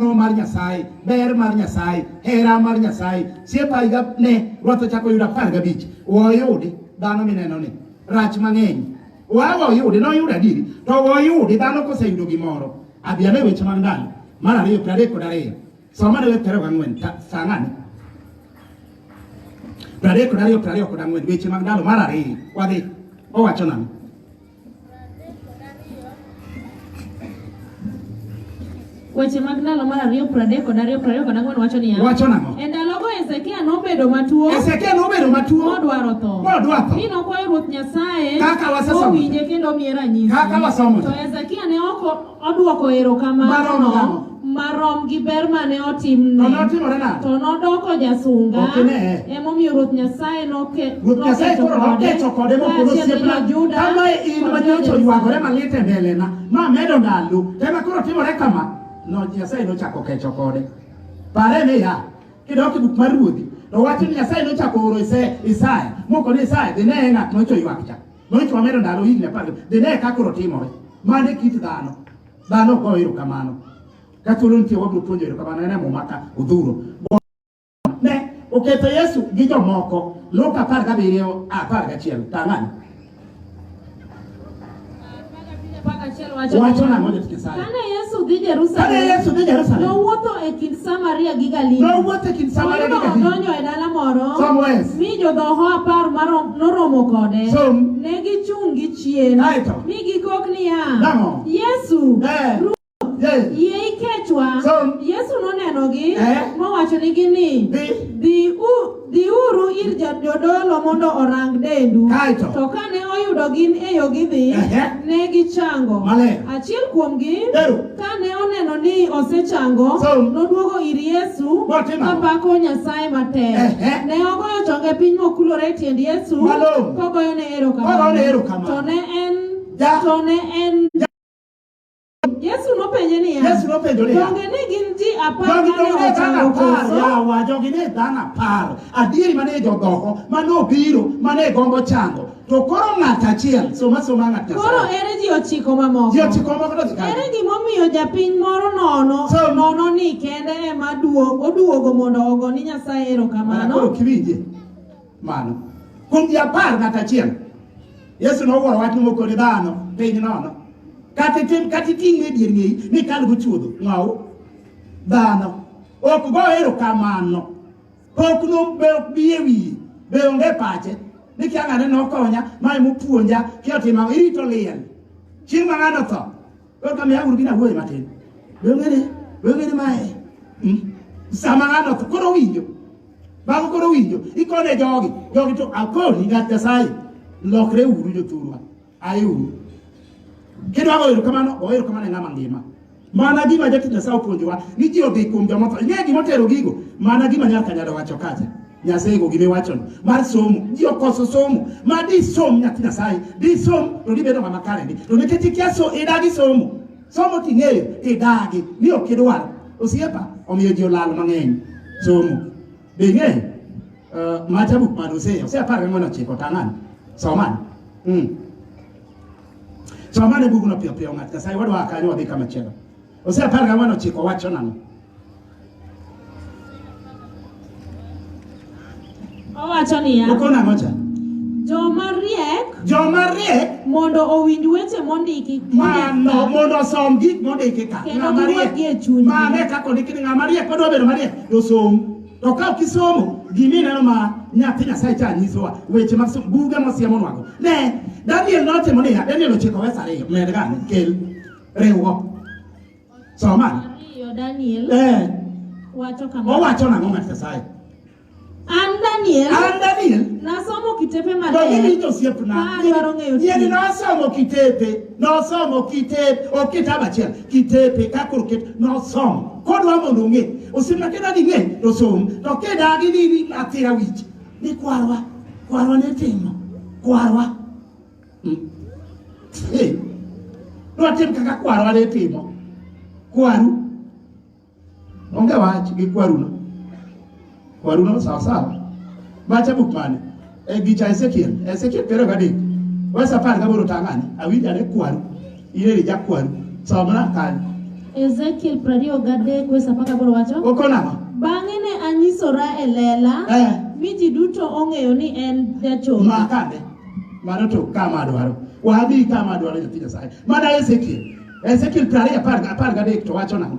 ng'wono mar Nyasaye, ber mar Nyasaye, hera mar Nyasaye. Siepa higa ne Ruoth ochako yudo apar gabich. Woyudi dhano mineno ni rach mang'eny. Wawa oyudi noyudo adiri to woyudi dhano koseyudo gimoro. Abi ane weche mag ndalo mar ariyo piero adek kod ariyo. Soma ne weche piero gang'wen saa ng'ane? Piero adek kod ariyo piero ariyo kod ang'wen weche mag ndalo mar ariyo wadhi owacho nang'o? Weche mag ndalo mar ariyo pradek kod ariyo prariyo kod ang'wen wacho niya. Wacho nang'o? E ndalogo Hezekia nobedo matuo. Hezekia nobedo matuo. Modwaro tho. Modwaro tho. Mi nokwayo Ruoth Nyasaye. Kaka wasesomo. Owinje kendo omiye ranyisi. Kaka wasomo. To Hezekia ne oko Odwoko erokamano Maromo nang'o? marom gi ber mane To otimne. notimore nade? To nodoko jasunga. Ok ine. Emomiyo Ruoth Nyasaye noke, Ruoth Nyasaye nokecho koro kode. nokecho kode mokoro Kaachiel gi osiepna. jo-Juda Kama in kod ma nyocha jo-Jerusalem. oywagore malit e mbelena, ma medo ndalo, ema koro timore kama. No, Nyasaye nochako kecho kode. Pare niya, kidok e buk mar ruodhi, to wacho ni Nyasaye nochako oro Ise- Isaya, moko ni Isaya, dhi ne ng'at nyocha oywak cha. Nonyiso wamedo ndalo higni apar gabich. Be ne kaka koro timore? Mano e kit dhano. Dhano ok goyo erokamano. Ka thuolo nitie wabiro puonjo erokamano en e muma ka odhuro. Ne oketho Yesu gi jomoko. Luka apar gabiriyo apar gachiel. Tang'ani. Wacho na moja tukisali. Kana Yesu dhi Jerusalem. Kana Yesu dhi Jerusalem. Nowuotho e kind Samaria gi Galili. Nowuotho e kind Samaria gi Galili. Nodonjo e dala moro. Somewhere. Mi jodhoho apar marom noromo kode. So, ne gichung' gi chien. Mi gikok niya. Yesu. Eh. Yes. Yie ikechwa. So, Yesu nonenogi eh? mowachonigi ni dhiuru ir jodolo mondo orang dendu. Kaito. To kane oyudo gin e yo gidhi, eh? ne gichango. Achiel kuomgi kane oneno ni osechango, so, noduogo ir Yesu kapako Nyasaye matek. Eh? Ne ogoyo chonge piny mokulore e tiend Yesu kogoyone erokamano. To ne en to ne en Yesu nopenje niya, Yesu nopenjo niya, donge ne gin ji apar Donge mane donge dhano ochango apar koso? yawa jogi ne dhano apar adieri mane jodhoko mane obiro mane gombo chango to koro ng'at achiel soma soma ng'at Koro Nyasaye ere ji ochiko mamoko? ji ochiko moko to dhi kanye? Ere gimomiyo japiny moro nono So- nono ni kende ema duo- oduogo mondo ogo ni Nyasaye Mana koro erokamano? ok iwinje Mano. Kuom ji apar ng'at achiel, Yesu nowuoro wach moko ni dhano piny nono. Kata itim kata iting'e dier ng'eyi ni kal go chuodho ng'aw dhano. Ok go ero kamano. Pok no be ok bi e wiye. Be onge pache. Ni kia ng'ane nokonya, mae mopuonja, kia otimo, irito liel. Chieng' ma ng'ano tho, Koro kama yaguru gina wuoye matin. Wengene, wengene mae. Hmm? Sama ng'ano to koro winjo. Bang' koro winjo, ikone jogi. Jogi to akoni ng'at Nyasaye. Lokre uru jothurwa. Aye uru. Kidwa goyo erokamano, goyo erokamano e ng'ama ngima. Mana gima jatich Nyasaye opuonjowa ni ji odhi kuom jomotho. Ing'e gima otero gigo? Mana gima nyaka nyalo wacho kacha. Nyasaye go gime wacho mar somo ji okoso somo ma di som nyathi Nyasaye di som to di bedo ng'ama kare ndi to nikech ikia so idagi somo somo ting'eyo idagi ni ok idwar osiepa omiyo ji olal mang'eny somo be ing'eyo uh, eh, macha buk mane oseyo ose apar gang'wen ochiko tang'ani somane mm. somane bugno piyo piyo ng'at Nyasaye wadwa kanyo wadhi kama chielo Hosea apar gang'wen ochiko wacho nang'o? Owacho niya, Oko nang'o cha? joma riek Joma riek mondo owinj weche mondiki mano mondo osom gik mondiki ka. Kendo Ng'ama riek. giwuogi e chunygi. Mano e kaka ondiki ni ng'ama riek kodwa bedo mariek to som. To ka ok isomo gima ineno ma nyathi Nyasaye cha nyisowa weche mag som- buge mosiemonwago. Ne, Daniel notimo niya, Daniel ochiko wes ariyo, med gane, kel. riwo. Soma. Ariyo Daniel. Eh. Wacho kama. Owacho nang'o ng'at Nyasaye? An Daniel. An Daniel. Nasomo kitepe maler. To in ito siepna. Adwaro ng'eyo. Yien nosomo kitepe. Nosomo kitepe. Ok kitabu achiel. Kitepe kakor ket nosomo. Kodwa mondo ong'e. Osiepna keda ni ng'e to som. To keda gi ni atira wich. Ni kwarwa. Kwarwa ne timo. Kwarwa. Dwatim hmm. kaka kwarwa ne timo. Kwaru. Onge wach gi kwaruno. Kwaruno sawa sawa. Bacha buk mane? E gicha Ezekiel. Ezekiel piero gadek. Wesa par gaboro tang'ani. Awinjane kwaru. Ile ni jakwan. Somna kan. Ezekiel 20 gadek wesa paka boro wacho. Okona. Bang'e ne anyisora e lela eh, mi ji duto ong'eyo ni en jachoro. Makane, mano to kama dwaro. Wadhi kama dwaro nyathi Nyasaye. Mana Ezekiel. Ezekiel 20 apar gadek to wacho nang'o?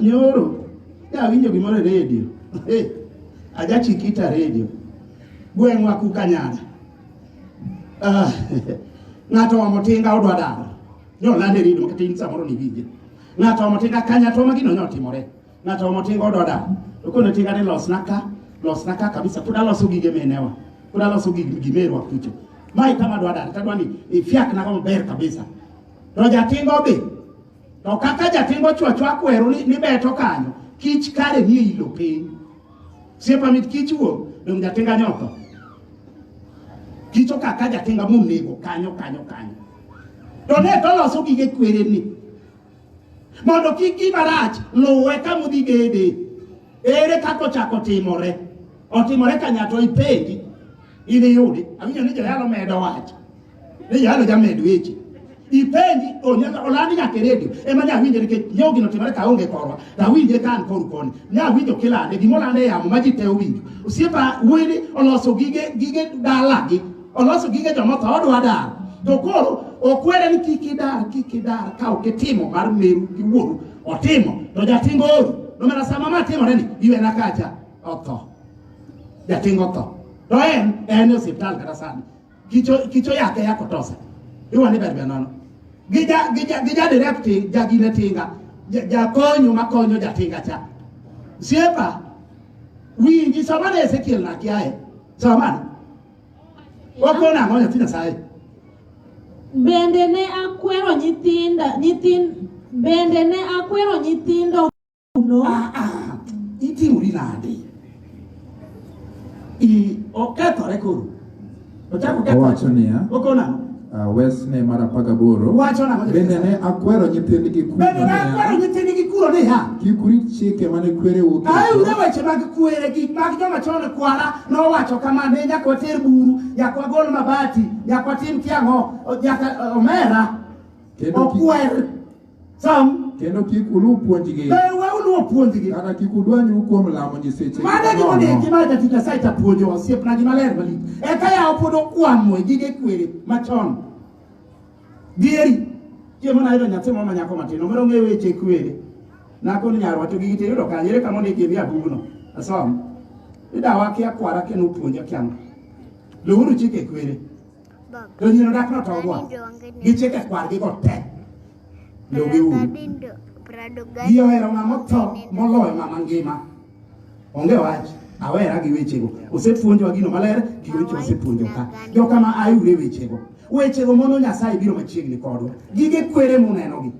Nyoro dawinjo gimoro e redio eh, ajachikita redio gweng'wa kukanyana ah, ng'ato omo tinga odwa daro nyolande rido makatin samoro niwinje ng'ato omo tinga kanya to magino nyotimore ng'ato omo tinga odwa daro to kone tinga ni losna ka losna ka kabisa pod aloso gige menewa pod aloso gimerwa kucho mae kama dwa daro tadwa ni ifiaknago maber kabisa to jatinga odhi To kaka jating ochwacho akwero ni, ni beto kanyo, kich kare nie ilo piny. Siepa mit kich wuok, dong jatinga nyoko. Kicho kaka jatinga monego kanyo kanyo kanyo. To ne to loso gige kwere ni. Mondo kik gima rach luwe kama udhi gede. Ere kaka ochako timore? Otimore kanyato ipenji. Idhi yudi. Awinjo ni joyalo medo wacho. Ne yalo jamed weche. Ipenji onyaka olandi nyaka e redio ema ne awinje nikech nyo gino timore ka onge korwa to awinje ka an koru koni ne awinjo kilande gima olande e yamo ma ji te owinjo osiepa wili oloso gige gige dalagi oloso gige joma tho odwa dar to koro okwere ni kik idar kik idar ka ok itimo mar meru gi wuoru otimo to jatingo oru nomera sama ma timore ni iwena kacha otho jatingo otho to en en e osiptal kata sani kicho kicho yake ya kutosa iwa ni berbe nono gija gija gija direct ja gine tinga ja, ja konyo makonyo ja tinga cha siepa winji samana Ezekiel na kiaye samana wakona ngonya tina sai Bende ne akwero nyithinda nyithin bende ne akwero nyithindo kuno aa iti uri nade i okethore koro ochako kethore Owacho niya, okona ang'o? ah, wesne mar apar gaboro Wacho nang'o? bende ne akwero nyithindgi kuno bende ne akwero niya, nyithindgi kuro niya kik urit chike mane kwereu aeure oketo weche mag kwere gik mag joma chon kwara nowacho kama ne nyaka water buru nyaka wagol mabati nyaka watim kiang'o nyaka eh, omera kendo kik- okwer Some. Kendo kik uluw puonjgi. Be we uluw puonjgi. Kata kik udwanyu kuom lamo nyiseche. Mano e gima onego gima jatich Nyasaye cha puonjo osiepna gima ler malich. Eka yawo pod okwamo e gige kwere machon. Dieri. Chiemo nayudo nyathi moro ma nyako matin, omero ng'eyo weche kwere. Nakoni nyarwa to gigi tiyudo kanye? Ere kama ondik e abubuno? Asom. Idawa kia kwara kendo puonja kianga. Luhuru chike kwere. Lonyino dak notogwa. Gichike kwargi go te. Logi uru. Ji ohero ng'ama otho moloyo ng'ama ngima. Onge wach. Awera gi wechego. Osepuonjwa gino maler gi weche osepuonjo ka. Jo kama ayure wechego. Wechego mono Nyasaye biro machiegni kodwa. Gige kwere munenogi.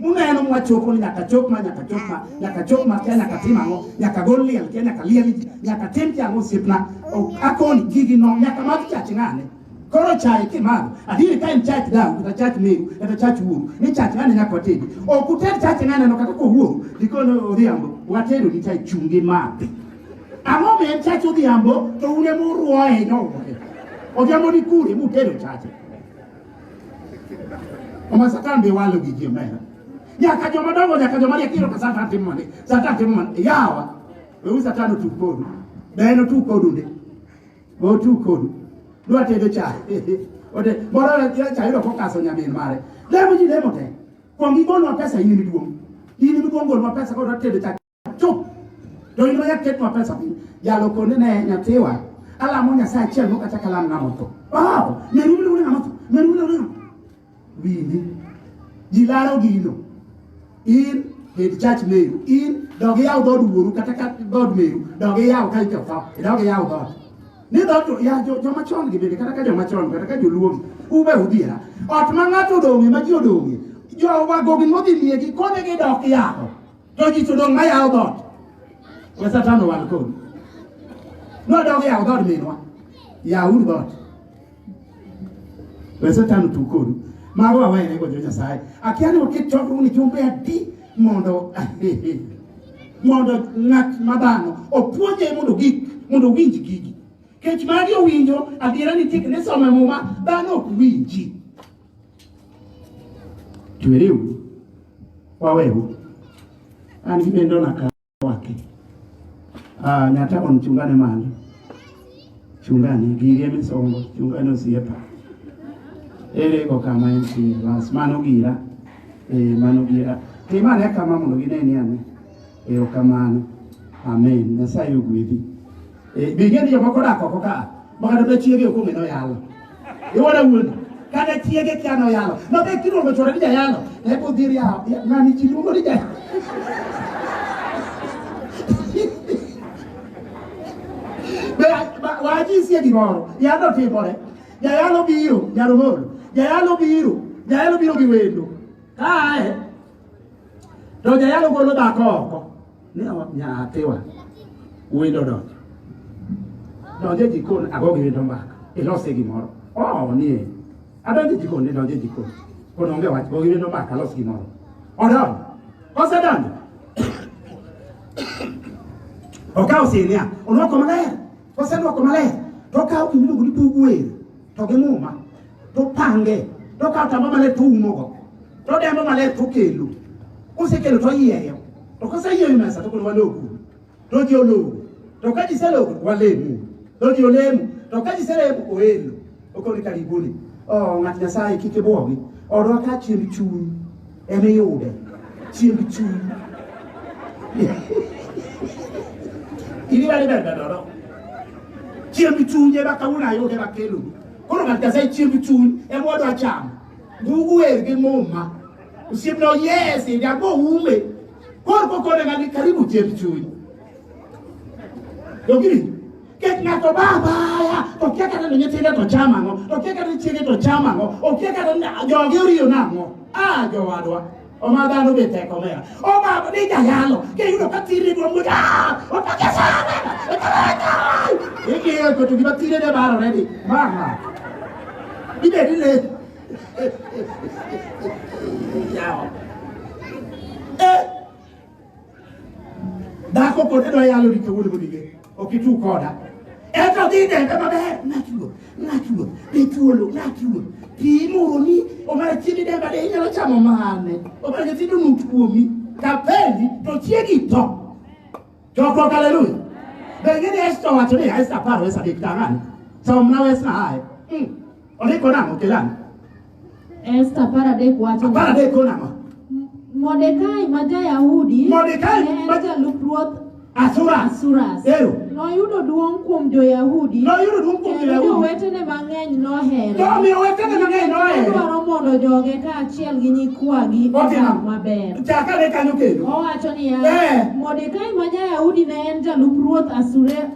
Uneno mwachopo ni nyaka chop ma nyaka chop ma nyaka chop ma kia nyaka tim ang'o nyaka gol liel kia nyaka liel ji nyaka tim kia ang'o osiepna O- akoni gigi no nyaka mag chach ng'ane koro chaye kimadho adieri ka en chach dawu kata chach meru kata chach wuoru ni chach ng'ane nyaka watedi ok uted chach ng'ane no kata kowuoru dikono odhiambo watedo ni chai chungi madhi ang'o ma en chach odhiambo to un ema uruoye nyowoye odhiambo ni kure mutedo chache Omiyo Satan be walo gi ji omera. Nyaka joma dongo nyaka joma riek iyudo ka Satan timo mane. Satan timo mane. Yawa. Weuru Satan otug kodu. Be en otug kodu ndi. Be otug kodu. Dwa tedo chai. Ote moro chai yudo kokaso nyamin mare. Lemo ji lemo te. Kuong igolwa pesa in miduong'. In miduong' golwa pesa kod tedo chai. chup joingo yaketnwa pesa piny jalo konde ne nyathiwa alamo nyasaye achiel mok achak alam ng'ama otho wow meru mine une ng'ama otho meru mine une winji ji laro gino in hed church meru in dog iyaw dhood wuoru kata ka dhood meru dog iyaw ka ite otho idog iyaw dhood ni dhood ya joma chon gi bende kata ka joma chon kata ka joluo gi ube udhiera ot ma ng'ato odong'e ma ji odong'e jowagogi modhi miegi konegi dok yako To ji to dong' mayawo dhoot. We Satan owal kodi. Nodog yawo dhood minwa. Yawuru dhoot. We Satan otug kodu. Mago wawene go jo-Nyasaye. Akia ni waket chokruok ni jumbe adi mondo mondo ng'at ma dhano opuonje mondo gik mondo owinj gigi. Kech magi owinjo adiera nitie kendo isome muma dhano ok winji. Chweriu waweu an gibendo na ka wake ah, nyata on chungane malo chungane girie misongo chungane osiepa ere go kama en si bas mano gira e eh, mano gira timane kama mondo gineni ane erokamano amen nyasaye ogwedhi Eh, Be ing'e ni jomoko odak oko ka ma kata be chiege ok ong'e ni oyalo? Iwara wuondi? Kata chiege kia ni oyalo. Ma be kiluongo chwore ni jayalo, e be odhi riawo. Ya, Ng'ani ji luongo ni jayalo. Be ba- wajisie gimoro, yalo timore. Jayalo biro, jaromolo. Jayalo biro, jayalo biro gi wendo. Kae, to jayalo golo dhako oko. Ne ot nyathiwa wendo donjo. Donjo e jikon ago gi wendo mbaka. Ilose gimoro. Oh, nie. Adonjo e jikon, idonjo e jikon. Pod onge wach, go gi wendo mbaka, los gimoro. Odonjo. Osedonjo. Okawo sinia, olwoko maler. Kosedwoko maler, to okawo gima iluongo ni bug wer, to gi muma, to opange, to okawo tamba maler to oumogo, to odembo maler to okelo. Kosekelo to oyieyo, to koseyieyo mesa to koro walogo, to ji ologo, to ka ji selogo to walemo, to ji olemo, to ka ji selemo oelo. Okoni ka giguli. Oh, ng'at Nyasaye kik ibwogi. Odwa ka chiemb chuny ema iyude. Chiemb chuny. Ini bali bende dodo. Chiemb chuny ema kawuono ayude makelo. Koro ng'at Nyasaye chiemb chuny ema odwa chamo. Ndugu wer gi muma. Osiepna yes, ndi agbo ume. Koro kokone ng'ani karibu chiemb chuny. Dogiri. Kech ng'ato ba abaya to okia kata ni nyithinde to chamo ang'o, to okia kata ni chiege to chamo ang'o, okia kata ni joge oriyo nang'o. Ah jowadwa, oma dhano be tek omera. Oma ni jayalo, kiyudo ka thiri dwa muoch, ah, otake sana, ikiyo koto gima thire ne barore ni, mama, ibed ni le. Yawa. Eh, Dhako kode dwa yalo ni kawuono kodi ge. Ok itu koda. Eka dhi dembe maber. Ng'at ruoth. Ng'at ruoth. Be thuolo. Ng'at ruoth. Pi moroni. Omara chiembi demba de inyalo chamo mane. Omara nyithindo nut kuomi. Kapendi to chiegi to. Chokruok haleluya. Be ing'e ni Esta owacho ni Esta apar wes adek tang'ani. Somna wes na aye. Mm. Ondiko nang'o kelani? Esta apar adek wacho apar adek kono ang'o Mordekai ma ja-Yahudi Mordekai ne en ma- jalup ruoth asura Asuras. Ero. Noyudo duong' kuom jo-Yahudi noyudo duong' kuom kendo jo-yahudi jowetene mang'eny nohere. nomiyo wetene mang'eny nohero Odwaro mondo joge kaachiel gi nyikwagi odag Otimo. maber. chakane kanyo kendo Owacho niya, Eh. Mordekai ma ja-Yahudi ne en jalup ruoth Asure-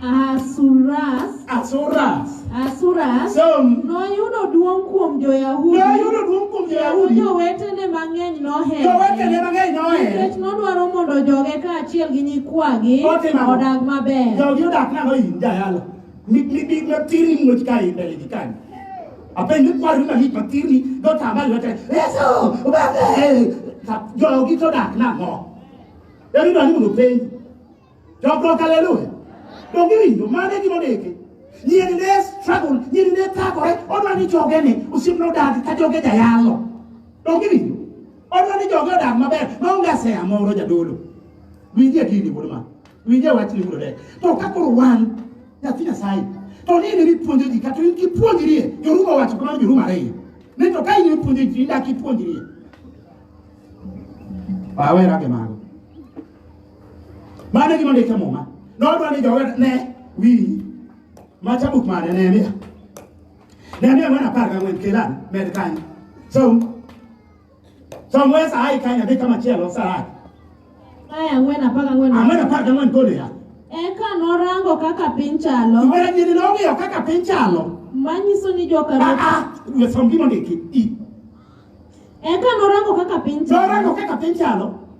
Asuras. Asuras. Asuras. So, noyudo duong' kuom jo-Yahudi. Noyudo duong' kuom jo-Yahudi. Jowetene mang'eny nohere. Jowetene mang'eny nohere. Nikech nodwaro mondo joge kaachiel gi nyikwagi odag maber. Jogi odak nang'o in jayalo. Mik matiri muoch ka in mbele gi kanyo. Apenjo kwari malich matiri dotama lwete. Yesu, ubebe. Jogi to odak nang'o. Yari nani mondo penj. Jokruok haleluya. Donge winjo mane gima ndiki? Nyiri ne struggle, nyiri ne thagore, odwa ni joge ni osip no dag ka joge jayalo. Donge winjo? Odwa ni joge odag maber, maonge asea moro jadolo. Winje gini wuod ma. Winje wach ni wuod To ka koro wan nyathi Nyasaye, to ni ne puonjo ji kata in kipuonjri, Yoruba wacho kamano Yoruba ariyo. Ni to ka in puonjo ji, indak ipuonjri. Pawera ke mago. Mano e gima ondik e Muma. Nodwa ni joga ne winji. Macha buk mane Nehemia. Nehemia mwana apar gang'wen Kelan med kanyo. So, so mwe sa ai kanyo adhi kama chielo sa ai. Aya ang'wen apar gang'wen. Ang'wen apar gang'wen kolo ya. Eka norango kaka piny chalo. Mwana nyiri nong'iyo kaka piny chalo. Manyiso ni joka Ah, ruoth. ah, we som gima ondiki. I. Eka norango kaka piny chalo. Norango kaka piny chalo.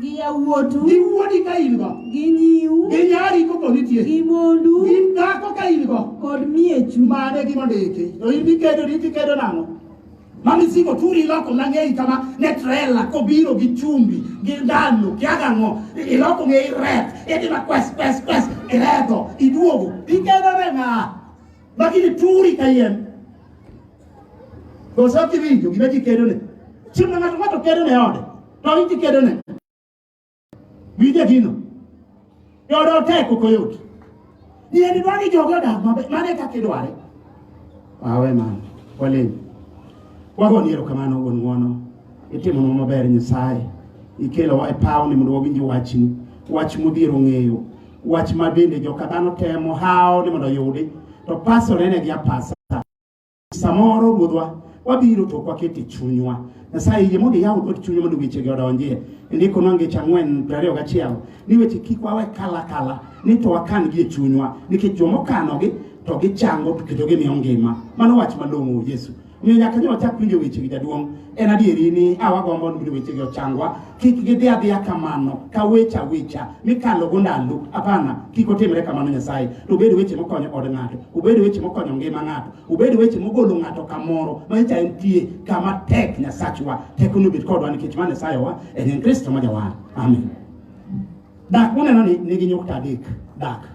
gi yawuotu gi wuodi ka in go gi nyiu gi nyari koko nitie gi mondu gi dhako ka in go kod miechu mane gima ndiki to in ikedo ni tikedo nang'o mami siko turi iloko nang'eyi kama ne trela kobiro gi chumbi gi ndalo kiagang'o iloko ng'e iret idima kwes kwes kwes ireto iduogo ikedo ne ng'a lakini turi kayiem koso kiwinjo gima ji kedone chieng' ma ng'ato ng'ato kedone ode to idhi kedone. Winje gino. Yodo tek ok oyot. Yeni dwa ni jogo odag maber, mano e kaka idware. Awe mano, walem. Wagoni erokamano wuon ng'wono. Itimonwa maber Nyasaye. Ikelowa e pawni mondo wawinj wachni. Wach modhiero ng'eyo. Wach ma bende joka dhano temo hawo ni mondo oyudi. To pasore ne gi apasa. Samoro Ruodhwa wabiro to kwakete chunywa Nyasaye yie mondo iyaw dhood chunywa mondo wechegi odonjie. Ndiko nwa ngeche ang'wen prariyo gachiel ni weche kik wawe kala kala ni to wakan gi e chunywa nikech joma okanogi to gichango to kendo gimiyo ngima. Mano wach malong'o Yesu. Omiyo nyaka nyo wachak winjo wechegi jaduong'. En adieri ni awagombo mondo wechegi ochangwa kik gidhi adhiya kamano ka weche awicha mikalo go ndalo hapana kik otimre kamano nyasaye to obed weche mokonyo od ng'ato obed weche mokonyo ngima ng'ato obed weche mogolo ng'ato kamoro ma nyacha entie kama tek nyasachwa tekone obed kodwa nikech ma nyasaye wa en en kristo ma jawar amen dak muneno ni nigi nyukta adek dak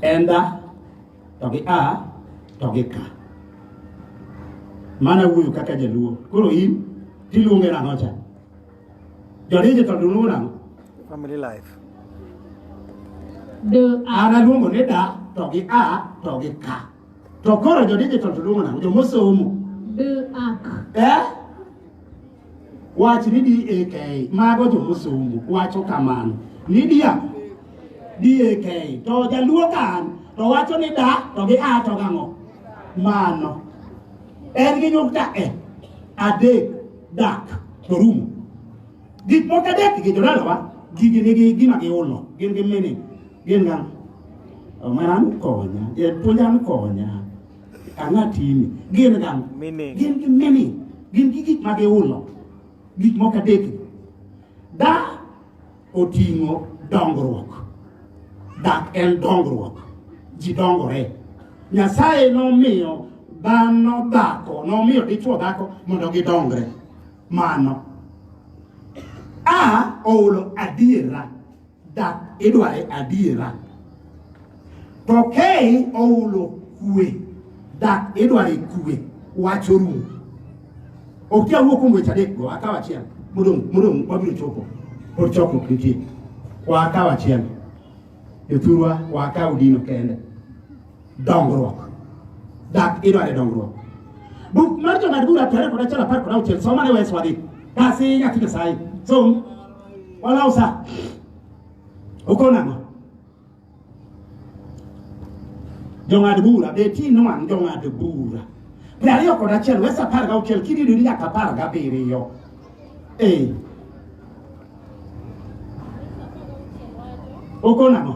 en da to gi a to gi ka mana wuoyo kaka jaluo koro in tiluonge nang'o cha jodije to duluwo nang'o family life an aluongo ni da to gi a to gi ka to koro jodije to duluwo nang'o jomosomo eh Wach ni DAK, mago jo musungu wacho kamano. Ni dia DAK, to jaluo kan to wacho ni da to gi a to gang'o. Mano. En gi nyukta e, adek, dak, to rumo. Gik moko adek gi jodalawa, gigi nigi gima giulo, gin gi meaning, gin gang'o. Omera ni konya, japuonja ni konya. Ang'a timi? Gin gang. Meaning. Gin gi meaning. Gin gi gik ma giulo. Gik moko adek. Da oting'o dongruok. Dak en dongruok. Ji dongore. Nyasaye nomiyo dhano dhako, nomiyo dichwo dhako mondo gidongre. Mano. A oulo adiera. Dak idware adiera. To kei oulo kwe. Dak idware kwe. Wacho rumo. Ok ya wuok kuom weche adek go, akaw achiel. Modong' modong' wabiro chopo. Pod chokruok nitie. Wakaw achiel. Jothurwa wakaw dino kende. dongruok. Dak idware dongruok. Buk mar jong'ad bura apar kod achiel apar kod auchiel soma ne wes wadhi. Kasi nyathi Nyasaye. Som. Walaw sa. Uko nang'o? Jong'ad bura be ti nwang' jong'ad bura. Piero ariyo kod achiel wes apar gauchiel kidido ni nyaka apar gabiriyo. Ee. Uko nang'o?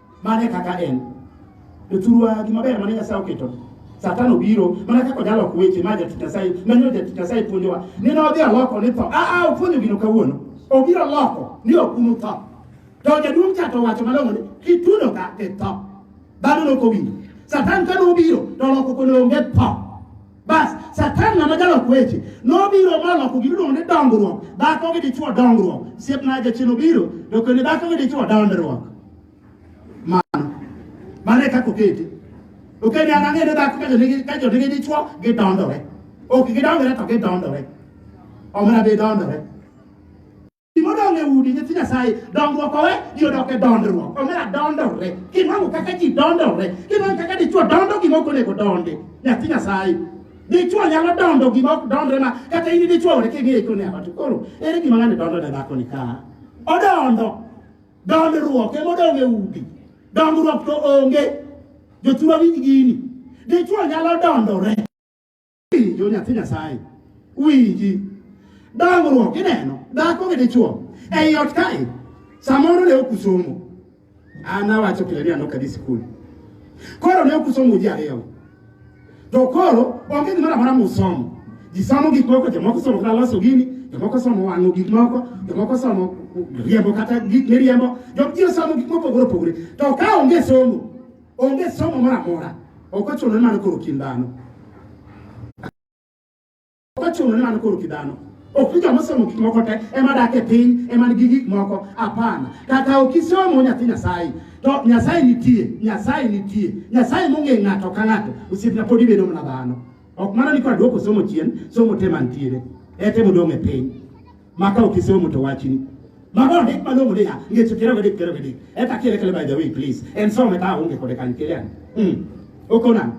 Mane kaka en. To thurwa gi maber mane Nyasaye oketo. Satan obiro mana kaka onyalo ok weche ma jatich Nyasaye manyo jatich Nyasaye puonjowa. Nene odhi aloko ni tho. Ah ah opuonjo gino kawuono. Obiro loko ni ok unu tho. To jaduong' cha to wacho malong'o ni kitudo ka itho. Dhano nokowinjo. Satan kane obiro to oloko kono onge tho. Bas, Satan ng'ama jalok weche nobiro moloko gimiluongo ni dongruok. Dhako gi dichwo dongruok. Siepna jachien obiro to kendo dhako gi dichwo dondruok. Mano. Mano e kaka oketi. Oketi an ang'e ni dhako ka jonigi ka jonigi dichwo gidondore. Ok gidongore to gidondore. Omena be dondore. Gimodong' e udi nyithi Nyasaye, dongruok owe ji odok e dondruok. Omera dondore. Kinwang'o kaka ji dondore. Kinwang'o kaka dichwo dondo gima ok onego donde. Nyathi Nyasaye. Dichwo nyalo dondo gima ok dondre ma kata in dichwo ore king'eyo ikone awa to koro ere gima ng'ani dondo ne dhako ni ka. Odondo. Dondruok emodong' e udi. Dongruok to onge. Jothurwa winj gini. Dichwo nyalo dondore. Winjo nyathi Nyasaye. Winji. Dongruok ineno dhako gi dichuo ei ot kae samoro ne ok usomo. An awacho pile ni an ok adhi sikul. Koro ne ok usomo ji ariyo. To koro onge gimoro amora musomo. Ji somo gik moko, jomoko somo kata loso gini, jomoko somo wang'o gik moko, jomoko somo riembo kata gik miriembo, jomoko somo gik mopogore opogore. To ka onge somo Onge somo moro amora. Ok ochuno ni mano koro kind dhano. Ok ochuno ni mano koro kind dhano. Ok ni joma somo gik moko te ema dak e piny ema nigi gik moko. Hapana. Kata ok isomo nyathi Nyasaye. To Nyasaye nitie, Nyasaye nitie. Nyasaye mong'e ng'ato ka ng'ato. Osiepna pod ibedo mana dhano. Ok mana ni kora duoko somo chien, somo te mantiere. Ete modong' e piny. maka okisomo to wachni mago hik malong'o ni ya ngeche piero gadek piero gadek eta kele kele by the way please en some ta aonge kode kanyo kele an mm. okona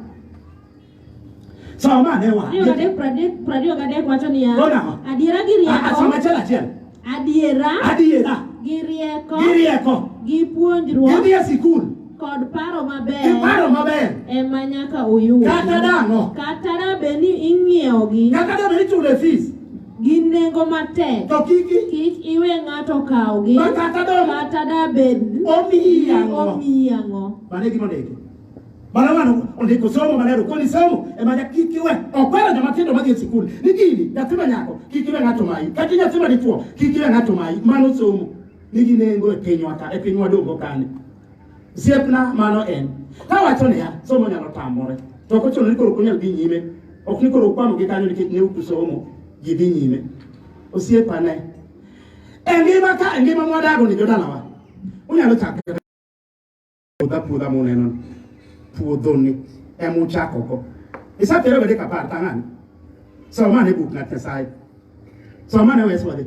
soma ne wa Hiyo gadek pradek pradio gadek wacho niya Ona. adiera gi Ah, ah, soma rieko achiel achiel adiera adiera gi rieko gi rieko gi puonjruok gidhi e sikul kod paro maber giparo maber ema nyaka uyud kata dang'o kata da bed ni ing'iewogi kata debe ichule fees gin nengo matek to kik kik iwe ng'ato kawgi kata do kata da bed omiyi ang'o omiyi ang'o mane gima ndiko Bana wano ondiko somo manero koni somo ema ja kik iwe okwero joma tindo madhi e sikul ni gini nyathi ma nyako kik iwe ng'ato mayi kata nyathi ma dichwo kik iwe ng'ato mayi mano somo nigi nengo e pinywa ka e pinywa dongo kani Siepna mano en. Ka wacho niya, somo nyalo tamore. To ok ochuno ni koro kunyal dhi nyime. Ok ni koro ukwamo gi kanyo nikech ne uku somo. Ji dhi nyime. Osiepa ne. E ngima ka, e ngima mwadago ni jodalawa. Unyalo chako puodha puodha muneno puodho ni ema uchako go isatere wede kapar tang'ani somane buk ng'at nyasaye somane weswadhi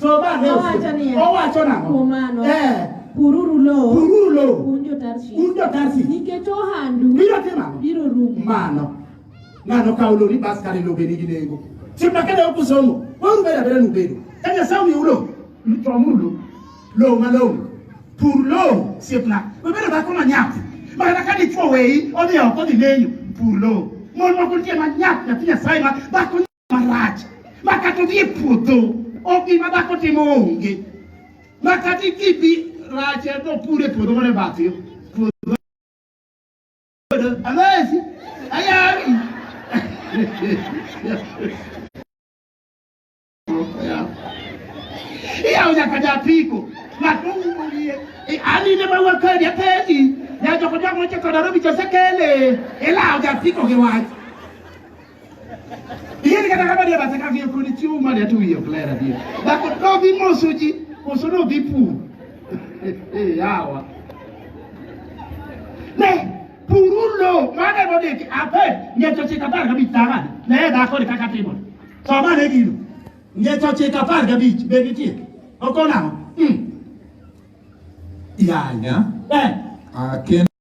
So ba ne owacho niya. Owacho nang'o? Kuom mano. Eh. Pururu lowo. Pururu lowo. Un jo-Tarshish. Un jo-Tarshish. Nikech ohandu. Biro timo ang'o? Biro rumo. Mano. Ng'ano kawo lori bas kare lobe nigi nengo. Simba kede ok usomo. Waru beda beda nubedo. Ka Nyasaye omiu lowo. Chomuru lowo. Lowo malong'o. Pur lowo siepna. Webedo dhako manyap. Makata ka dichwo weyi odhi oko dhi lenyo. Pur lowo. Mon moko nitie manyap nyathi Nyasaye ma dhako marach ma kata odhi e puodho ok gima dhako timo onge ma kata ikibi rach e to pure puodho mane bathi puodho amesi ayari iyawo nyaka japiko ng'ato umo wiye anine mawa kadi apenji nyajoko jok mocheko Nairobi chosekele ilawo japiko gi wach Yeni kata kama dia basa kaki yoko ni chiu mali atu wiyo klera dia. Dako no vi moso ji, moso no vi pu. Eh, yawa. Ne, purulo, mane mo deki, ape, nye choche katar kabi tanga. Ne, dako ni kaka timo. So mane gilu. Nye choche katar kabi, baby tia. Oko na, hmm. Yanya. Eh. Akin.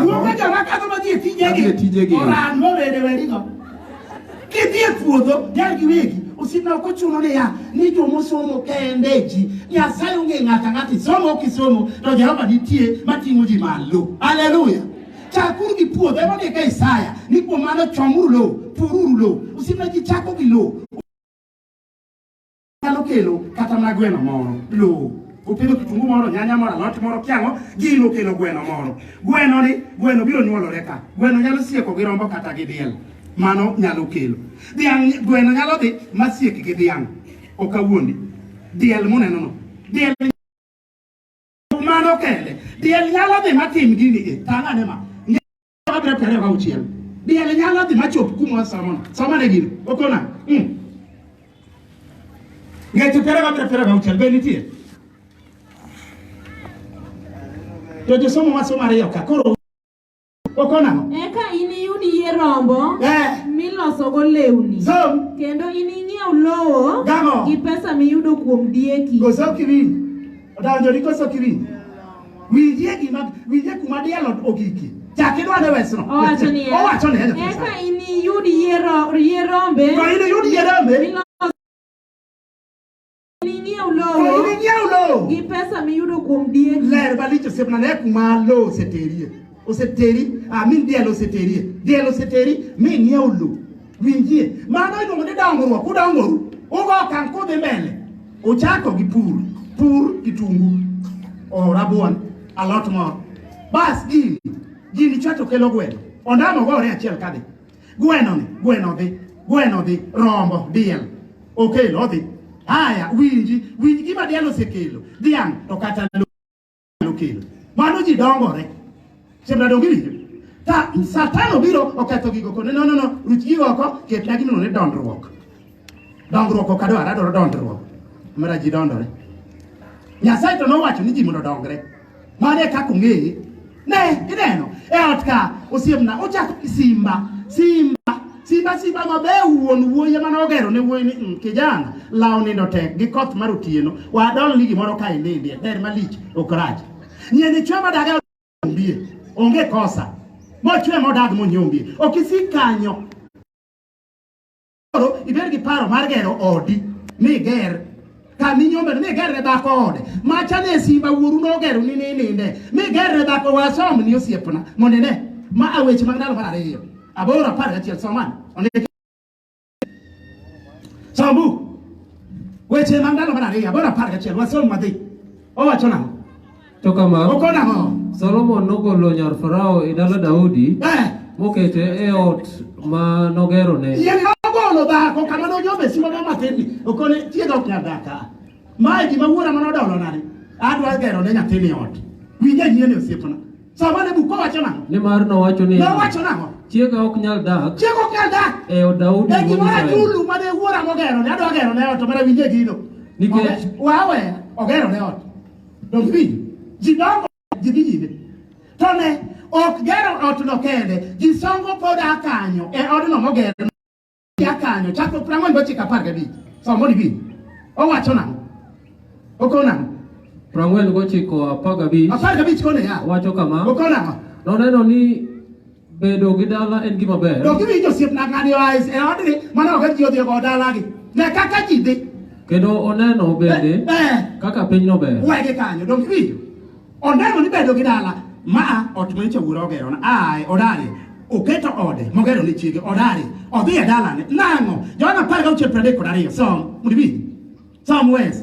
Wuoka joma kadho ma dhie tijegi. Dhie tijegi. Oran mowede werigo. Kidhie puodho, jal gi wegi. Osipna ok ochuno niya ni joma osomo kende ji. Nyasaye onge ng'ata ng'ata isomo ok isomo to Jehova nitie mating'o ji malo. Haleluya. Chakuru gi puodho ema ndika Isaya ni kuom mano chomuru lowo, pururu lowo. Osipna ji chako gi lowo. nyalo kelo kata mana gweno moro lowo opidho kitungu moro nyanya moro alot moro kiang'o gino kelo gweno moro gweno ni gweno biro nyuolore ka gweno nyalo sieko gi rombo kata gi diel mano nyalo kelo dhiang' gweno nyalo dhi masiek gi dhiang' ok awuondi diel muneno no diel mano kende diel nyalo dhi matim gini e tang'ane ma wabiro tare ka uchiel diel nyalo dhi machop kuma samona samona gino okona mm. ngeche pere wabiro pere ka uchiel be nitie to josomo masomo ariyo ka koro okona eka iniyud yie rombo eh. milosogo lewni so, kendo ining'iew lowo gi pesa miyudo kuom dieki Odonjo ni koso kiwinjo. Winjie gima winjie kuma diel ogiki. Chak idwa ne wesno. Owacho ni. Owacho ni. Eka ini yud yiero yierombe. To ini yud yierombe. Ini ng'iew lowo. Ini ng'iew lowo. Gi pesa miyudo kuom diek. Ler balich osiepna ne kuma lowo oseterie. Oseteri, amin ah, diel oseterie. Diel oseteri, mi ng'iew lowo. winjie mano iluongo ni dongruok udongoru ugo okang' kudhi mbele uchako gi pur pur kitungu o rabuon alot moro bas gini gini chato kelo gweno ondamo gore achiel kadhi gweno ni gweno dhi gweno dhi rombo diel okelo odhi haya winji winj gima diel osekelo dhiang' to kata nyalo kelo. Mano ji dongore. Sembra dongiri. Ta satan obiro oketho gigo kone no no no ruch gigo oko ket na gino ne dondruok. Dongruok ok adwar adwaro dondruok. Mara ji dondore. Nyasaye to nowacho ni ji mondo dongre. Mane kaka ong'eye. Ne ineno e ot ka osiemna ochako gi simba simba Simba simba maber wuon wuoyi ema nogero ne wuoyi ni "Mm, kijana law nindo tek gi koth mar otieno wadol ni gimoro ka inindie ber malich ok rach nyeni chwe madaga ombie onge kosa mochwe modag monyombie ok isik kanyo koro ibed gi paro mar gero odi miger kama inyombeno migerre dhako ode macha ne simba wuoru nogero ni nininde migerre dhako wasom ni osiepna mondo ine ma aweche mag ndalo mar ariyo aboro apar gachiel somani ondiki som buk weche mag ndalo mar ariyo aboro apar gachiel wasom wadhi owacho nang'o To kama, Oko nang'o? Solomon nogolo nyar Farao e dala Daudi, Eh, mokete e ot ma nogerone. yie nogolo dhako kama nonyome simo mo matin okone tieg ok nyal daka mae gima wuora mane odolo nani adwa gero ne nyathini ot winja yieni osiepna sama ne buko wacho nang'o Nimar nowacho niya, nowacho nang'o chiega ok nyal dak chieg ok nyal dak e od Daudi e wuod gimoro Israel. achulu mane wuora mogero ne adwa gero ne ot to mana winje gino Nikech- Oge- wawe ogero ne ot Donge winjo? Ji dongo, ji dhi nyime. To ne, ok gero otno kende, ji songo pod a kanyo e odno moger a kanyo chakruok piero ang'wen gochiko apar gabich. Somo ni winjo. Owacho nang'o? Okowo nang'o? Piero ang'wen gochiko apar gabich. Apar gabich kone ya. Owacho kama. Okowo nang'o? Noneno ni Bedo gi dala en gima ber. Dok iwinjo osiepna ng'ani oa e odni mana ok ji odhiyo go dalagi. Ne kaka ji dhi. Kendo oneno bende Eh, eh. kaka pinyno ber. Wege kanyo dok iwinjo. Oneno ni bedo gi dala ma ot ma chawura ogero na ai odari oketo ode mogero ne chiege odari odhi e dalane nang'o Johana apar gauchiel piero adek kod ariyo som mondo iwinj som wes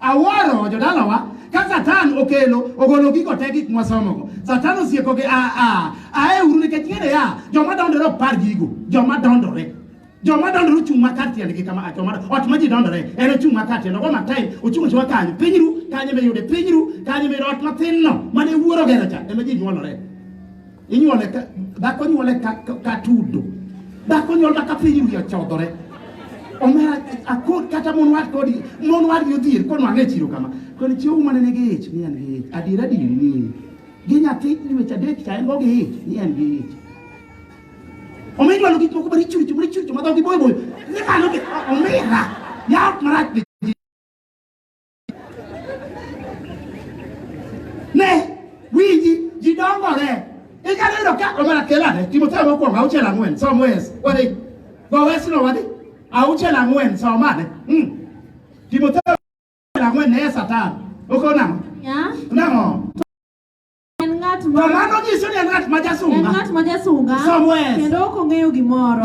Awuoro jodalawa ka Satan okelo ogolo gigo te gik mwasomogo. Satan osieko gi a a ae uru nikech ng'ere ya joma dondore ok par gigo joma dondore joma dondore ochung' ma kar tiendgi kama a joma ot ma ji dondore en ochung' ma kar tiende ogo matain ochung' ochung' kanyo pinyru kanyo miyude pinyru kanyo miyude ot mathinno mane wuoro gero cha ema ji nyuolore inyuole ka dhako nyuole ka, ka, ka tudo dhako nyuolna ka piny wiye ochodhore omera akod kata mon wad kodi mon wad gi odhier kono ang'e chiro kama koni chiwo mane nigi ich ni en gi ich adiera diri ni ich gi nyathi dweche adek cha en go gi ich ni en gi ich omi inyuolo gik moko bari chuchu bari chuchu madhogi boyo boyo ni malo gi omera yaot marach Ne winji ji dongore. Ikane yudo ka omana kelane Timotheo mokwongo auchiel ang'wen som wes wadhi go wesno wadhi auchiel ang'wen som ane mm. Timotheo auchiel ang'wen ne Satan oko nang'o nang'o to mano nyiso ni en ng'at ma jasunga som wes kendo ok ong'eyo gimoro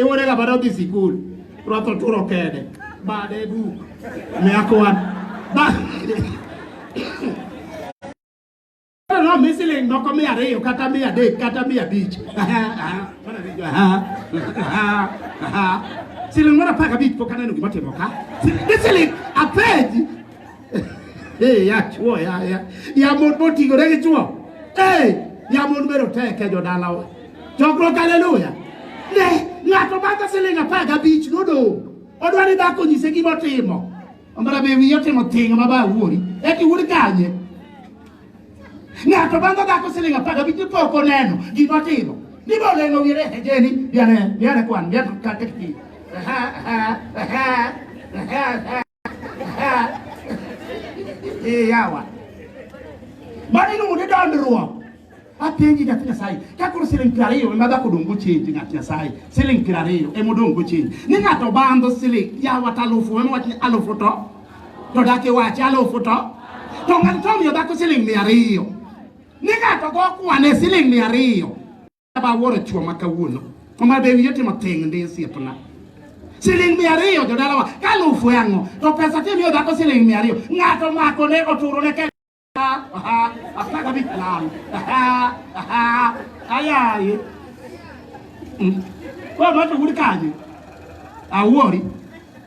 iwore ga bado dhi sikul rwato turo kede bade du meakwan no mi siling moko mia ariyo kata mia adek kata mia abich siling moro apar gabich pok aneno gima timo ka ni siling apenji Eh, ya chuo ya ya ya mon motingore gi chuo Eh, ya mon bero tek e jodalawa chokruok haleluya ne ng'ato madho siling apar gabich nodong' odwa ni dhako nyise gima otimo ombara be wiye otimo tinga ma ba wuori eti wuod kanye ng'ato madho dhako siling apar gabich ni pok oneno gima otimo ni be oleng'o wiye ni ejeni biane biane kwan biane kaketi Eh, yawa. Mano iluongo ni dondruok. Apenji nyathi Nyasaye, ka koro siling' piero ariyo ema dhako odong' go chenji ng'at Nyasaye, siling' piero ariyo ema odong' go chenji. Ni ng'ato bandho siling' yawa to alufu ema wach ni alufu to to dak iwachi alufu to to ng'ato to omiyo dhako siling' mia ariyo. Ni ng'ato go kwane siling' mia ariyo. ba woro chwo ma kawuono omar be wiye timo ting ndi osiepna siling mia ariyo jodalawa ka alufu e ang'o to pesa kimiyo dhako siling mia ariyo ng'ato mako ne oturo ne kenya apar gabich lal ayaye koro noto wuri kanye awuori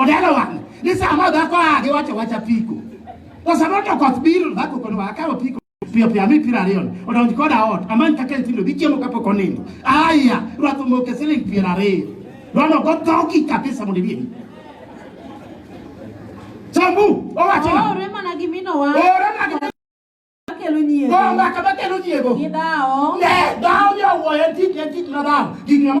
Odelo wang' ni sama dhako a giwacho wacha piko. To sama to koth biro dhako kono wa akawo piko piyo piyo ami piero ariyo odonj koda ot amany kaka nyithindo dhi chiemo kapok onindo. Aya rwath omoke siling piero ariyo. Rono go dhogi kabisa mondo ibiebi. Sambu owacho na. Ore mana gi mino wa. Ore mana gi kelo nyiego. Go mbaka makelo nyiego. Gidawo. Ne, dawo ni owuoyo tich ne tich na dawo. Gik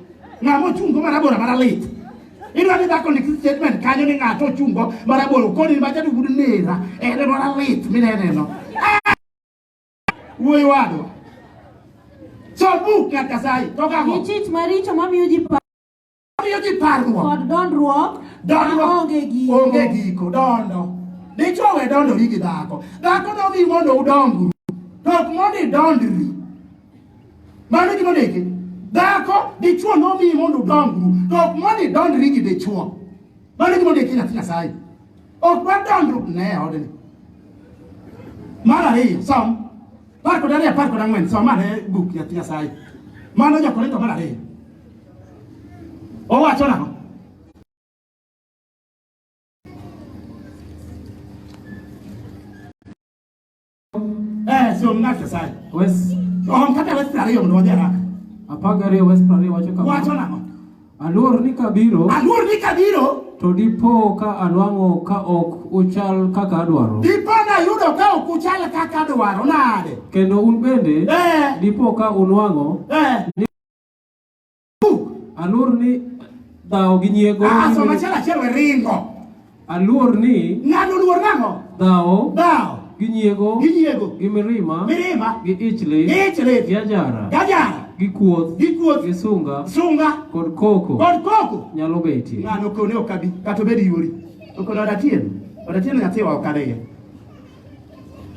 ng'a mochungo marabora maralit idwa ni dhako ndik statement kanyo ni ng'ato ochungo marabora koni machadu bud nera ene maralit mineneno Ah! wuoyi wadwa so buk ng'at kasayi to Gi kago chich maricho mamiyo ji pa- miyo ji parruok kod dondruok Dondo. maonge giko. Onge giko, dondo. Dichwo we dondori gi dhako. Dhako nobi mondo udongru. To ok mondo idondri. Mano gima ndiki. Dhako dichwo nomiyi mondo udongru, to ok mondo idondri gi dichwo. Mano gima ndiki nyathi Nyasaye. Ok wadondru ne odni. Mar ariyo, som. Par kod ariyo, par kod ang'wen, som ane buk nyathi Nyasaye. Mano Jokorinto mar ariyo. Owacho nang'o? Eh, sio mng'ate sana. Wes Oh, mkate wes ariyo mondo wadhi haraka. apaga ariyo wes prariyo wacho kama. Wacho nang'o? Aluor ni kabiro Aluor ni kabiro, to dipo ka anwang'o ka ok uchal kaka adwaro. dipo nayudo ka ok uchal kaka adwaro nade. Kendo un bende Eh, dipo ka unwang'o eh. Aluor ni dhawo gi nyiego. Ah, so machiel achiel we ringo. Aluor ni. Ng'ano luor nang'o? Dhawo. Dhawo. Gi nyiego. Gi nyiego. Gi mirima. Mirima. Gi ichli. Gi ichli. Gi ajara. Gi ajara. Gi kuoth. Gi kuoth. Gi sunga. Sunga. Kod koko. Kod koko. Nyalo betie. Ng'ano kone okabi. Kato bedi yori. Okono odatien. Odatien nyathiwa okadeye.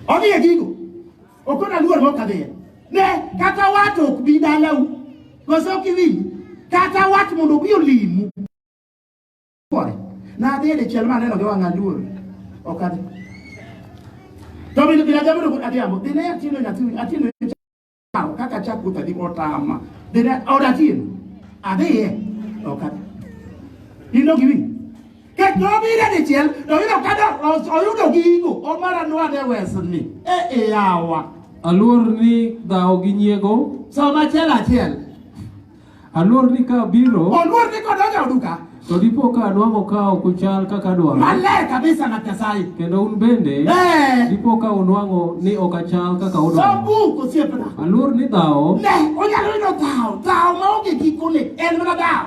Odhi e gigo. Ok ona luor mok adhiye. Ne kata wat ok bi dalau. Koso ok iwinj. Kata wat mondo obi olimu. Kore. Na adhiye dichiel ma aneno gi wang'a luor. Ok adhi. To bende bila jamoro kod adhiambo. Dine atino nyathi atino kaka chako tadi otama. Dine odatino. Adhiye. Ok adhi. Ino gi winj. Ket nobiro e dichiel to oyudo ka oyudo gigo omara nwane wesni e e yawa. Aluor ni dhawo gi nyiego. Som achiel achiel. Aluor ni ka biro. Oluor ni kodonjo duka. To dipo ka anwang'o ka ok uchal kaka dwaro. Maler kabisa na Nyasaye. Kendo un bende. Eh. Dipo ka unwang'o ni ok achal kaka udwaro. Som buk osiepna. Aluor ni dhawo. Ne onyalo yudo dhawo. Dhawo maonge gikone en mana dhawo.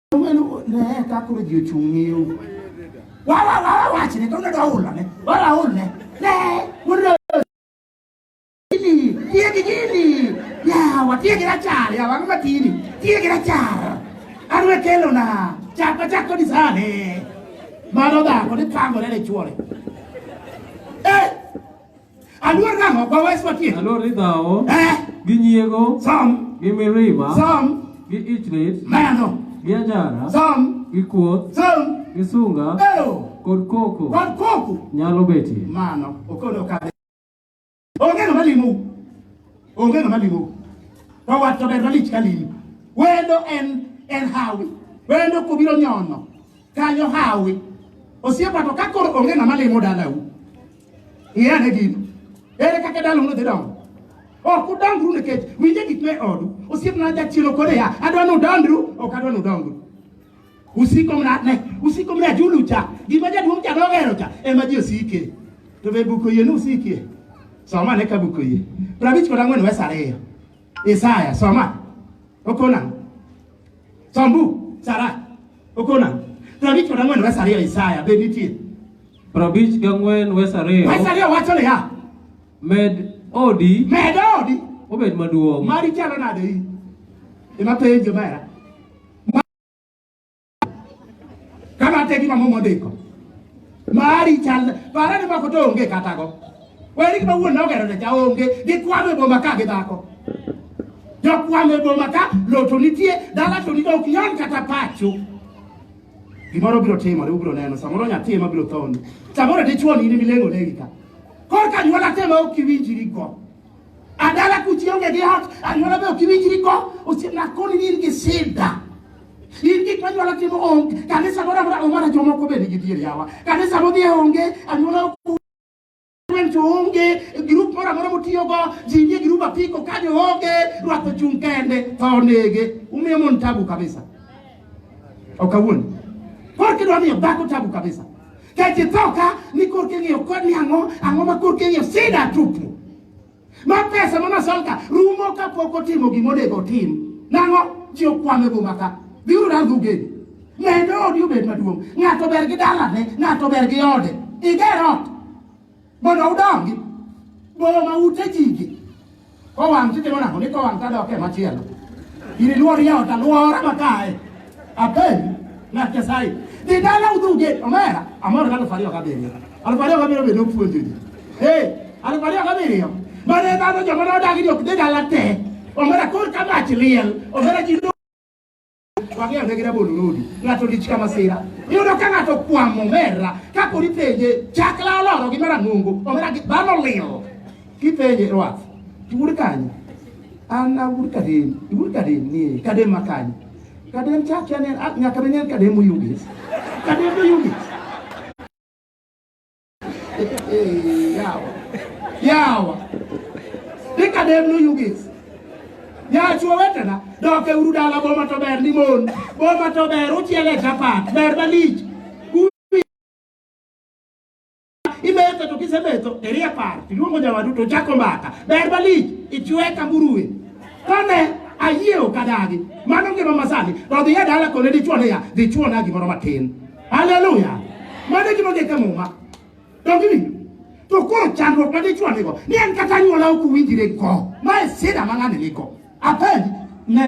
Mano ne ka koro ji ochung' ng'iyo. Wa wa wa wa wach ne kawuono dwa hulo ne. Wa wa hul ne. Ne wuono gini tiye gi gini. Ya wa tiye gi rachar ya wang' matini tiye gi rachar. Arwe kelo na chak ma chak kodi sani. Mano dhako ni pangore ne chuore. Aluor nang'o? Kwa wes matie. Aluor ni dhawo. Eh. Gi nyiego. Som. Gi mirima. Som. Gi ichlit. Mano. Gi ajara. Som. Gi kuoth. Som. Gi sunga. Ero. Kod koko. Kod koko. Nyalo betie. Mano. Okono kare. Onge ng'ama limu. Onge ng'ama limu. To wat to ber malich ka limu. Wendo en en hawi. Wendo kubiro nyono. Kanyo hawi. Osiepa to ka koro onge ng'ama limu dalau. Iran egiko. Ere kaka dala uno dhi dongo? Ok udangru nikech winje gik me odu. Osiepna jachielo kore ya. Adwa ni udandru, ok adwa ni udongru. Usiko mna ne, usiko mna julu cha. Gima jaduong' cha dogero cha ema ji osike. To be buko yie ni usikie. Soma ne ka buko yie. Prabich kod ang'wen wes ariyo. Isaya, soma. Okona. Sombu, Sara. Okona. Prabich kod ang'wen wes ariyo Isaya be nitie. Prabich gang'wen wes ariyo. Wes ariyo wacho niya. Med odi. Med odi. Obed maduong'. Mari chalo nade i? Ema penjo mera. Kama te gima momo ndiko. Mari chal para ni mako to onge kata go. Weri gima wuon nogero ne cha onge gi kwame boma ka gi dhako. Jokwame boma ka loto nitie dala to ni ok nyon kata pacho. Gimoro biro timore, ubiro neno. Samoro nyathi ema biro thoni. Samoro dichwo ni milengo negi ka. Kor ka nyuola tema ok iwinjiri go. Adala kuchi onge gi hat, anyuola be ok iwinjiri go. Osiepna koni ni in gi sida. In gik ma nyuola timo onge. Kanisa moro amora omara jomoko be nigi dier yawa. Kanisa modhi onge, anyuola ok Gweng' to onge, grup moro amora motiyogo, ji nie grup apiko ka jo onge, rwath ochung' kende, tho onege. Umiyo mon tabu kabisa. Ok awuondi. Koro kidwa miyo dhako tabu kabisa. Kech itho ka ni korki ng'iyo kod ni ang'o, ang'o ma korki ng'iyo sida tupu. Ma pesa ma masolka rumo ka pok otimo gima onego otim. Nang'o? Ji okwame boma ka. Biuru rangu ugeni. Medo odi obed maduong'. Ng'ato ber gi dalane, ng'ato ber gi ode. Iger ot. Mondo udongi. Boma ute jigi. Kowang' titimo nang'o? Ni kowang' tadok e machielo. Iniluor yaot alwora makae. Akai na Kesai. Di dala udu get omera. Amor galo fario kabiri. Al fario kabiri be no puonjo di. Hey, al fario kabiri. Mane dano joma no dagi di okde dala te. Omera kor kama achiliel. Omera jindo wang'eyo ne gina bolo lodi ng'ato dich ka masira iyudo ka ng'ato kwamo omera kapo ni penje chakla oloro gi marang'ongo omera dhano lil kipenje rwath tur kanyo An awur kadem, iwur kadem ni kadem makany. Kadem chak ya nen ak nyaka nen kadem uyugis. Kadem uyugis. Yawa. Yawa. Ni kadem uyugis. Ya chuo wetena, doke uru dala boma to ber ni mon. Boma to ber uchiele chapat, ber malich. imetho to kisemetho irie par tiluongo jama duto chako mbaka ber malich ichwe ka murue kane ayie ok adagi mano ngima masani to odhi e dala kone dichwo niya dhi chwona gimoro matin haleluya mano e gima ondik e muma dongini to koro chandruok ma dichwo nigo ni en kata anyuola ok uwinjire go ma e sida ma ng'ani nigo apenji ne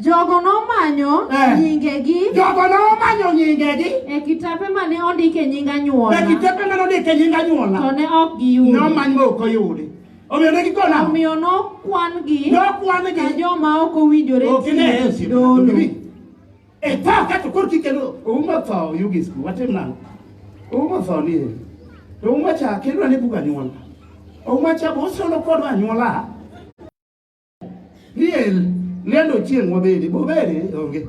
Jogo nomanyo Eh. nyingegi Jogo nomanyo nyingegi e kitape mane ondik e nying e anyuola kitepe mane ondik e nying to anyuola. ne ok giyudo. Nomany ma ok oyudi. Omiyo ne gikona. Omiyo nokwan-gi ka Nokwan-gi. joma ok owinjore Ok ine tiyo Yesu. dolo. E tho kato koro kikendo oumo tho yugisku watim nang'o? Oumo tho ni e. To oumo cha kendo ane bug anyuola. Oumo cha bosolo kodwa anyuola. Liel, liel ochieng' wabede, bobede onge.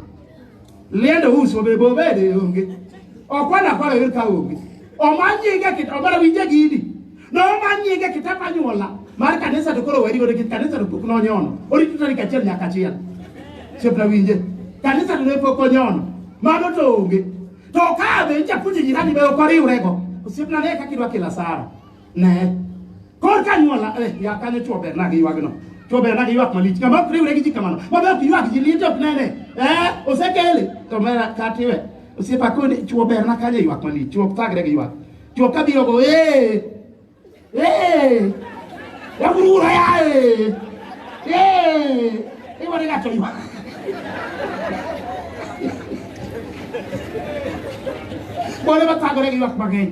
Liel ous wabede, bobede onge. Okwana kwara yer ka onge. Omanyinge kit obara winje gidi. No omanyinge kit apanyuola. Mar kanisa to koro weri godo kit kanisa to pok nonyono. Orito tarik achiel nyaka achiel. Chepna winje. Kanisa to ne pok onyono. Mano to onge. To kabe nja puji jirani be okoriwrego. Osiepna ne kaka idwa kila sara. ne kor ka nyuola eh, ya kane chwo ber nagi ywagno chwo ber nagi ywak malich ng'ama ok riwre gi ji kamano mabe ok ywak ji liet ok nene eh, osekele to mera katiwe osiepa koni chwo ber na kanye ywak malich chwo ok thagre gi ywak chwo ka biro go ee ee yakurura ya ee ee iwane gato ywak bole bathagore gi ywak mang'eny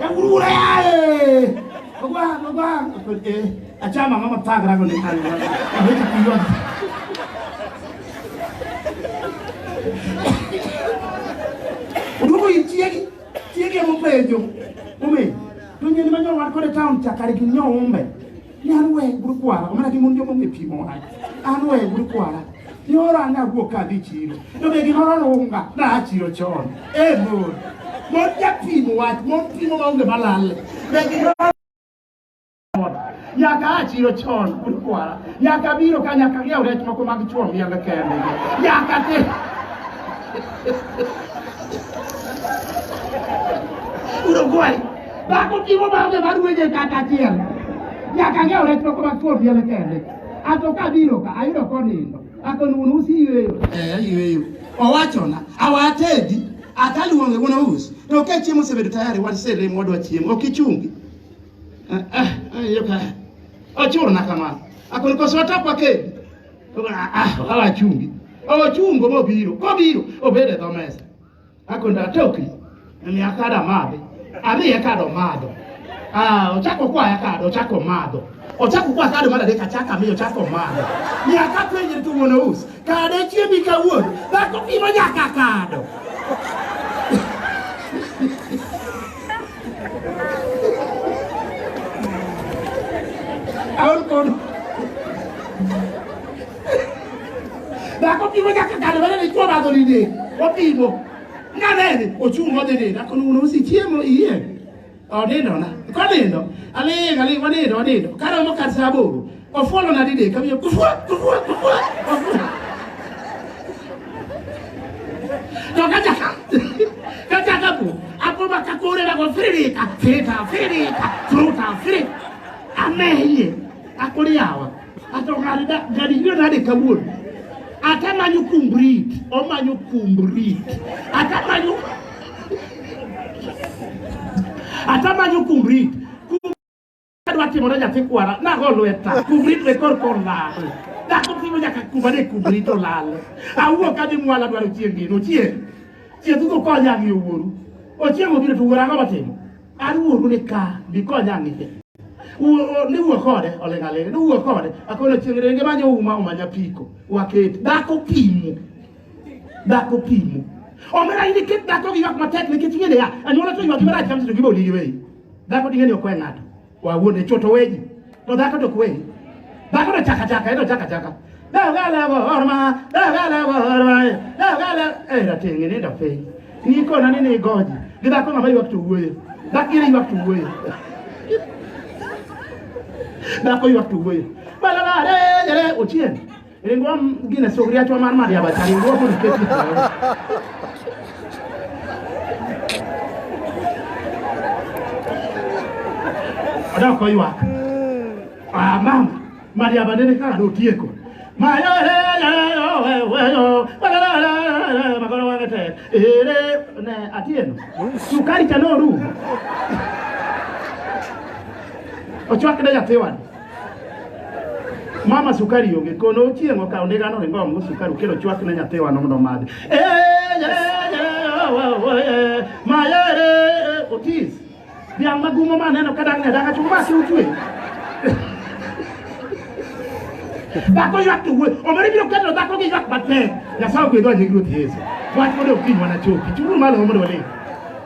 yakurura yaye mama mama achama mama paka rako ni kali hawezi kuiona udugu itieki tieki mupejo ume tunye ni manyo wakore town chakari kinyo umbe ni an we buru kwara omana gi mon jomong'e pimo wach an we buru kwara nyoro an awuok ka adhi chiro to be gimoro runga na a chiro chon e mon mon japimo wach mon pimo maonge malalle be gimoro nyaka a chiro chon buru kwara nyaka biro ka nyaka ng'iew rech moko mag chwo miembe kende nyaka te Uruguay Dhako timo bambe mar weje kata achiel. Nyaka ng'eyo rech moko mag thuol piele kende. Ato ka biro ka ayudo konindo. Akon wuon usi yweyo. Eh, yweyo. Owachona, awatedi, ataluonge wuon usi. To ka chiemo osebedo tayari, wan sere mwadwa chiemo. Ok ichungi. Eh, eh, eh, yo ka. Ochuna kamano. Akon koso atapa kedi. Ah, ah, awachungi. Ochungo mobiro. Kobiro, obede dho mesa. akwenda atoki ni akada madhi adhi akado madho ah ochako kwa akado ochako madho ochako kwa akado madho deka chaka mi ochako madho ni akapenje tu mwana us kade chiemi kawuono dhako pimo nyaka akado aol kono Dako pimo nyaka kado bana ni kwa bago ni de. Opimo. Na nene ochu mo de de. Dako nuno usi chiemo iye. Onindo na. Kwa nindo. Ale ale kwa nindo nindo. Karo mo kasa buru. Ofolo na dide kamyo kufua kufua kufua. Toka jaka. Kaka kapu. Apo bakakore na kwa firita. Firita firita. Fruta firita. Ameye. Akuri yawa. Ato ng'ani da ng'ani ywe nade kawuono. Ata manyo kumbrit, omanyo kumbrit. Ata manyo Ata manyo kumbrit. Adwa timo na nyathi kwara, nago lweta, kumbrit be kor kor lal. Dhako timo nyaka kuma ne kumbrit olal. Awuok adhi mwala dwaro chieng' gino, chieng'. Chieng' dhugo konya ng'iyo wuoru. Ochieng' obiro to wuora ang'o matimo? Aruoru ni ka gikonya ang'e. Ni wuo kode oling' aling' ni wuo kode akono chieng' renge manyo uma uma nyapiko waket dhako pimo dhako pimo omera in iket dhako gi ywak matek nikech ing'e niya anyuola to ywak marach kamseto gibo ligi weyi dhako ding'e ni ok we ng'ato wawuonde choto weji To dhako to kwe. Dhako to chaka chaka, eno chaka chaka. Dhako gale orma, dhako gale orma, dhako gale eh ratingi ni ndo piny. Ni kona ni ni goji. Gi dhako ng'ama ywak to wuoyo. Dhako iri ywak to wuoyo. Dhako ywak to wuoyo. Balala re re ochien. Ringwa gine sogri achwa mar maria bacha ringwa kun keti. Ada ko iwa. Ah mam, maria badene ka do tieko. Ma yo he yo yo we we yo. Wala la la la magoro wa gete. Ere ne atieno. Sukari cha no ru. Ochwa kida ya tewan. Mama sukari onge kono ochieng' okawo ndiga no ringo omo sukari okelo chwak ne nyathiwa no mondo omadhi. Eh, eh, eh, eh, mayere eh, Otis. Dhiang' magumo ma aneno ka dang'ne danga chuma ma si utwe. Dhako ywak to wuoy. Omere biro keto dhako gi ywak matek. Nyasaye ogwedho anying Ruoth Yesu. Wach mondo okinywa na chopi. Chunguru malo mondo walem.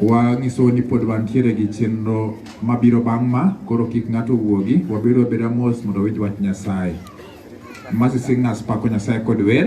Wang'iso ni pod wantiere gi chenro mabiro bang' ma, koro kik ng'ato wuogi, wabedo abeda mos mondo wawinj wach Nyasaye. Mercy Singers pako Nyasaye kod wer.